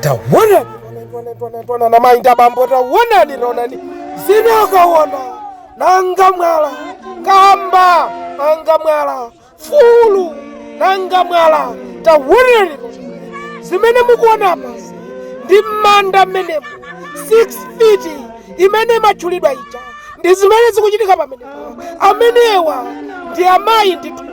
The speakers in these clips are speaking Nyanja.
tawonani tawonani a mayi ndi abambo tawonani onani zinakawona nanga mwala kamba nanga mwala fulu nanga mwala tawonani zimene mukuona apa ndi m'manda mmenemo 6 feet imene imatchulidwa ija ndi zimene zikuchitika pamene amenewa ndi amayi ndithu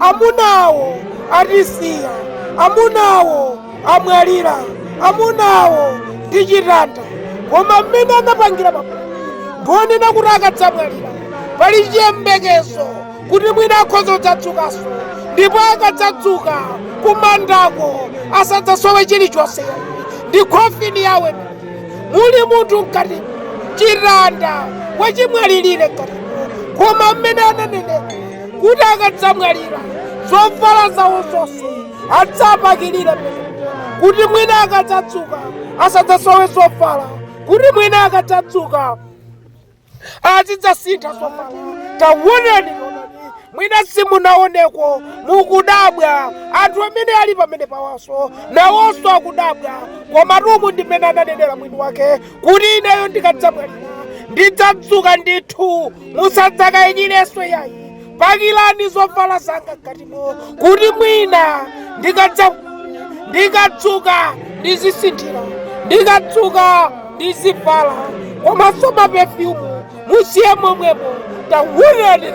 amunawo atisiya amunawo amwalira amunawo ndi chitanda koma mmene anapangira pamenepa ndi onena kuti akadzamwalira pali chiyembekezo kuti mwina akhoza kudzadzukanso ndipo akadzadzuka kumandako asadzasowe chilichonse ndi khofini yawo muli munthu mkati chitanda wachimwalirire mkati koma mmene ananenera kuti akadzamwalira zovala zawo zonse adzapakirire mmene kuti mwina akadzadzuka asadzasowe zovala kuti mwina akadzadzuka azidzasintha zovala tawonani mwina simunawoneko mukudabwa anthu amene ali pamenepawanso nawonso akudabwa komatu umu ndi mmene ananenera mwini wake kuti ineyo ndikadzamwalira ndidzadzuka ndithu musadzakayikirenso yayi pakirani zovala zanga mkatimo kuti mwina ndikadza ndikadzuka ndizisinthira ndikadzuka ndizivala komanso mapefyumu musiye momwemo tawonani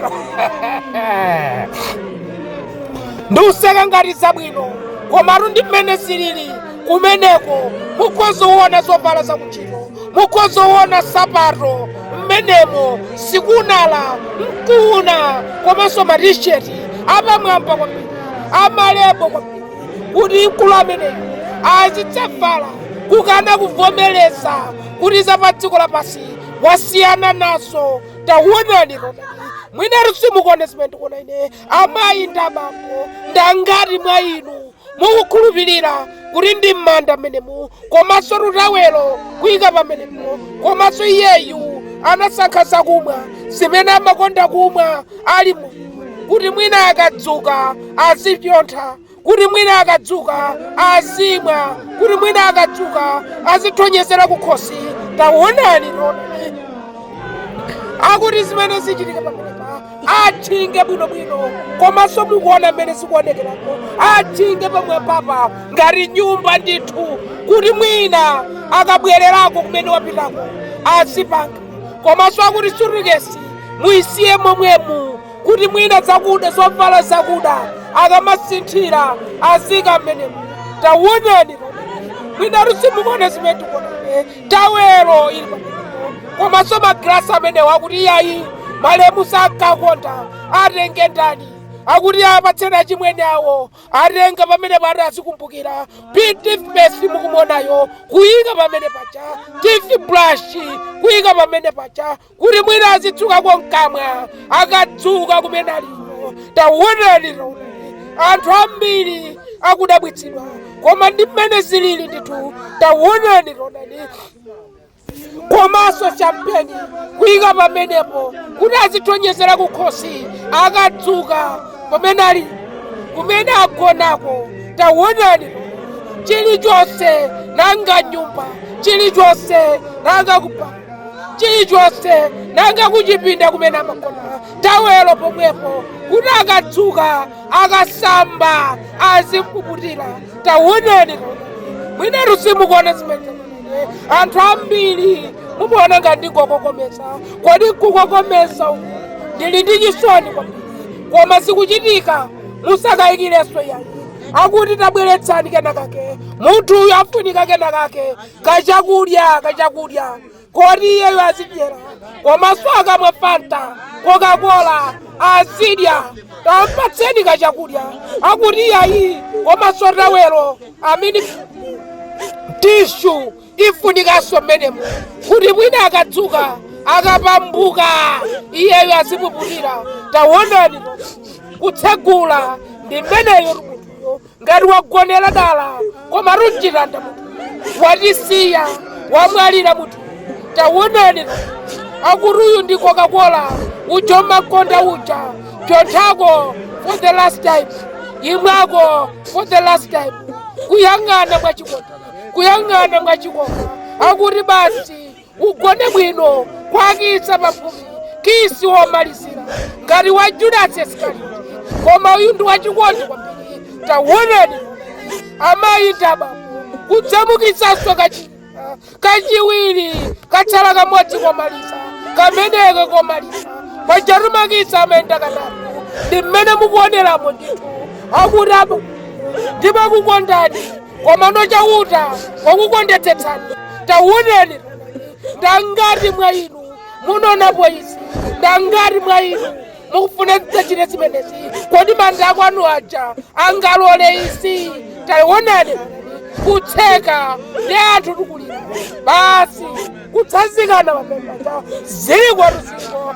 ndikuseka ngati zabwino komatu ndi mmene zilili kumeneko mukhoza kuona zovala zakuntchito mukhoza kuona nsapato mmenemo sikunama mukuona komanso matisheti apamwamba kwambiri amalebo kwambiri kuti mkulu ameneyo azidzavala kukana kuvomereza kuti za pa dziko lapansi wasiyana nazo tawonani onani mwina tu simukuona zimene ndikuona ine amayi ndi abambo ndangati mwa inu mukukhulupirira kuti ndi m'manda mmenemo komanso tutawelo kuyika pamenepo komanso iyeyu anasankha zakumwa zimene amakonda kumwa ali moyo kuti mwina akadzuka azipyontha kuti mwina akadzuka azimwa kuti mwina akadzuka azithonyezera kukhosi tawonani onani akuti zimene zichitika pamenepa atchinge bwinobwino komanso mukuona mmene zikuonekerako atchinge pamwambapa ngati nyumba ndithu kuti mwina akabwererako kumene wapitako azipanga komanso akuti sutukesi muyisiye momwemu kuti mwina zakuda zovala zakuda akamasinthira aziika mmenemu tawonani mwinatu simukuona zimene tikuona Tawelo ili pamenepo komanso magrasi amenewo akuti iyayi malemu sankakonda atenge ndani akuti apatseni achimwene awo atenga pamene pati azikumbukira toothpaste mukumuonayo kuyika pamene paja toothbrush kuyika pamene paja kuti mwina azitsukako mkamwa akadzuka kumene aliko taonani taonani anthu ambiri akudabwitsidwa koma ndi mmene zilili ndithu taonani taonani komanso champeni kuyika pamenepo kuti azithonyezera kukhosi akadzuka pamene ali kumene agonako taonani chilichonse nanga nyumba chilichonse nanga kupa chilichonse nanga kuchipinda kumene amagona tawelo pomwepo kuti akadzuka akasamba azimpuputira tawonani mwinatu simukuona zimene anthu ambiri mukuona ngati ndikukokomeza kodi nkukokomeza uku ndili ndi chisoni kwambiri koma zikuchitika musakayikirenso yayi akuti tabweretsani kenakake munthu uyu afunika kenakake kachakudya kachakudya koti iyeyo azidyera komanso akamwa fanta kokakola azidya tampatseni kachakudya akuti iyayi komanso tawelo amene tishu ifunikanso mmenemo kuti mwina akadzuka akapambuka iyeyo azipuputira tawonani kutsegula ndi mmeneyo ngati wagonera dala komatu n'chitanda munthu watisiya wamwalira munthu tawonani akuti uyu ndi coca-cola uja umakonda uja psonthako for the last time imwako for the last time kuyang'ana mwachikondi kuyang'ana mwachikondi akuti basi ugone bwino kwa kitsa pafupi kisi womalizira ngati wa judasi esikariyoti koma uyu ndi wachikondi kwambiri tawonani amayi ndaba kudzamukitsanso kachikena kachiwiri katsala kamodzi komaliza kameneke komaliza pajatu makitsa amayenda katatu ndi mmene mukuoneramo ndithu akuti aba ndimakukondani Komano Chauta wakukondetsetsani. Taonani, ndangati mwa inu munaonapo izi? Ndangati mwa inu mukufuna tidzachite zimenezi? Kodi manda akwanu aja angalole izi? Taonani, kutseka ndi anthu tikulira basi kutsazikana pamemata zili kwatu ziko